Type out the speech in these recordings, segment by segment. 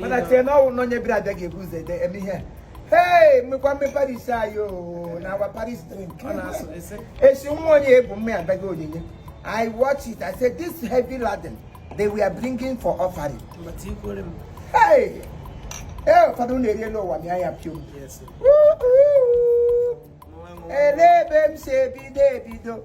mana tie na ọnwụ na onye bịara abịa ga-ebu ụzọ ede eme ihe Hey, mmekwa mme parish ayo na our parish priest. Esi nwa onye ebu mme abịaghị onyinye. I watch it. I said this heavy laden they were bringing for offering. Hey! Hey, ụfọdụ na-eri elu ụwa mịa ya pio. Ele ebe m si ebido ebido.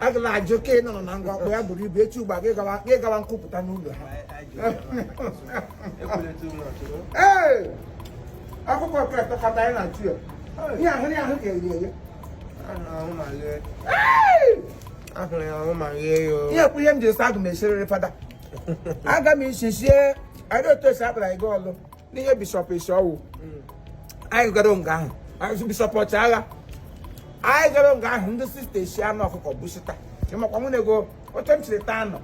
agala ajụ ka ị nọ na ngwa ọkpọ ya buru ibu echi ugbu a gị gawa nkwupụta n'ụlọ ha ee akwụkwọ nke tọkọta anyị na-achụ ya ihe ahụ ya ahụ ga-eri eri ihe kwu ihe m ji sị aga m esiriri fada aga m isi sie anyị otu esi akpara gị ọlụ n'ihe bishọp Ishowu mm. anyị gara nga ahụ anyị bishọp Ọchịagha anyị gara nga ahụ ndị sista esi anụ ọkụkọ busita ịmakwa nwunye go oche m chiri taa anọ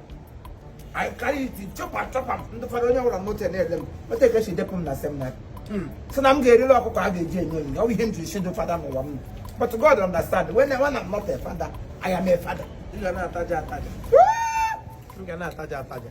anyị karịa iti chọpa chọpa m ndị fọdụ onye nwụrụ moto na-ele m otu a ka e si depụ m na seminarị mm. si na m ga-eriri ọkụkọ a ga-eji enye onyinye ọ bụ ihe m jiri si ndị fada n'ụwa m but God understand when when I'm not a father I am a father. Ị ga na-ataja ataja. Ị ga na-ataja ataja.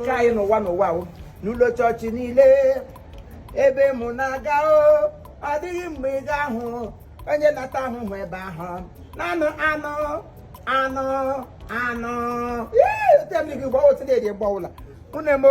nke anyị n'ụwa n'ụwa o n'ụlọ chọọchị niile ebe mụ na-aga o ọ dịghị mgbe ị ga-ahụ onye na-ata ahụhụ ebe ahụ naanị anụ anụ anụ ee otu emiri gị gbawa otu na-eri gbawa ụla unu emo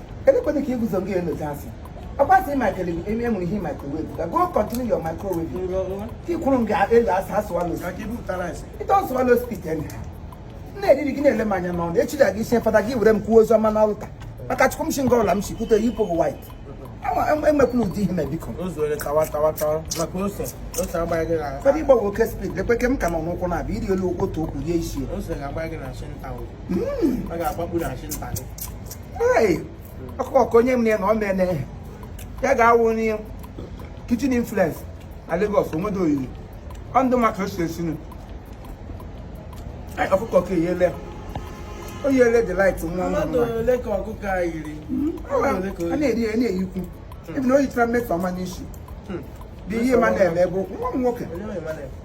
elekwana ka iguzo gị enyocha asị ọkwasị makele eme enwere ihe microwave ka go continue your microwave ka ikwuru nga elu asị swallow it don't swallow spit anyhow na-eriri gị na-ele m anya n'ọnụ echi ga gị sie fada gị were m kwuo ozi ọma n'ọlta maka chukwu m si nga ọla m si kwute yipụ gị white enwekwula ụdị ihe na biko fada ịgbawa oke speed lekwe ke m ka nọ n'ụkwụ na-abịa iri elu otu okwu rie isi ọkụkọ onye m na ya na ọ mene ya ga-awụ n'ihe kitchen influence na Lagos onwedo oyiri ọ ndụ maka o si esi anụ ọkụkọ ka eyele o yele the light nwa nwa nwa a na-eri ya na-eyikwu ebe na o yichara mmefu ọma n'isi dị ihe ma na-eme ebe okwu nwa m nwoke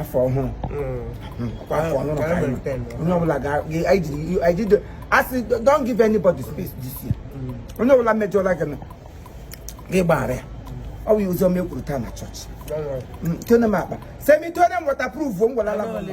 afọ ọhụrụ kwa afọ ọhụrụ ka anyị nọ. onye ọbụla ga- ga- anyị jiri- anyị jide- a sị don't give anybody space this year onye ọbụla mejọla gị na gị gbaghara ya ọ bụ ya ozi ọma e kwuru taa na chọọchị Mm, tone m akpa semi tone m waterproof m welala m mmadụ.